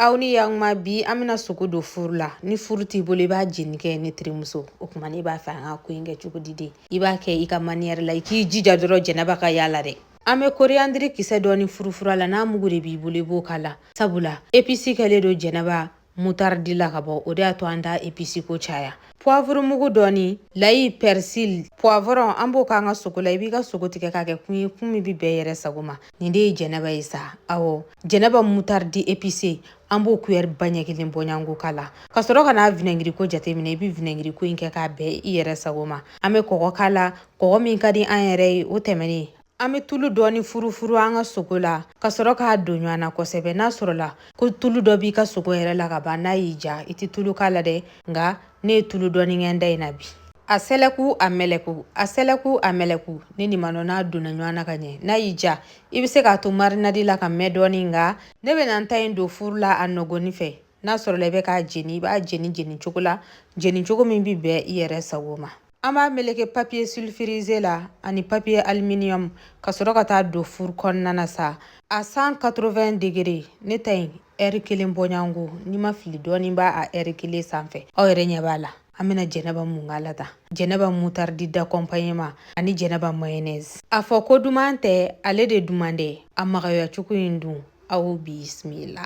aw ni yakuma bi an bɛna sogo don furu la ni furu t'i bolo i b'a jeni kɛ ne terimuso o tuma ne b'a fɛ an ka ko in kɛ cogo di de i b'a kɛ i ka maniyɛri la i k'i jija dɔrɔn jɛnɛba ka y'a la dɛ an bɛ koriyandiri kisɛ dɔɔni furufuru a la n'a mugu de b'i bolo i b'o k'a la sabula episi kɛlen don jɛnɛba mutaridi la ka ban o de y'a to an t'a episi ko caya puwavuru mugu dɔɔni layi pɛrisili puwavɔrɔn an b'o k'an ka sogo la i b'i ka sogo tigɛ k'a kɛ kun ye kun min bɛ bɛn i yɛrɛ sago ma nin de ye jɛnɛba ye sa awɔ jɛnɛba mutaridi epise an b'o kuyɛri ba ɲɛ kelen bɔɲanko k'a la ka sɔrɔ ka na vinɛngiriko jateminɛ i bɛ vinɛngiriko in kɛ k'a bɛn i yɛrɛ sago ma an bɛ kɔgɔ k'a la kɔgɔ min ka di an yɛrɛ ye o tɛmɛnen an bɛ tulu dɔɔni furufuru an ka sogo la ka sɔrɔ k'a don ɲɔgɔn na kosɛbɛ n'a sɔrɔla ko tulu dɔ b'i ka sogo yɛrɛ la ka ban n'a y'i ja i tɛ tulu k'a la dɛ nka ne ye tulu dɔɔni kɛ n ta in na bi a sɛlɛku a mɛlɛku a sɛlɛku a mɛlɛku ne ni manɔ n'a donna ɲɔgɔn na ka ɲɛ n'a y'i ja i bɛ se k'a to marinadi la ka mɛn dɔɔnin nka ne bɛ na n ta in don furu la a nɔgɔni fɛ n'a sɔrɔla i bɛ k'a jeni i b'a jeni jeni cogo la jeni cogo min bɛ bɛn i yɛrɛ sago ma an b'a meleke papiye sulfirize la ani papiye aluminium ka sɔrɔ ka taa don furu kɔnɔna na sa a 180 degere ne ta in ɛri kelen bɔɲango ni n ma fili dɔɔnin b'a a ɛri kelen sanfɛ aw yɛrɛ ɲɛ b'a la an bɛna jɛnɛba mun k'a la tan jɛnɛba mutaridi d'accompagnement ani jɛnɛba mayonnaise a fɔ ko duman tɛ ale de duman dɛ a magaya cogo in dun aw bisimila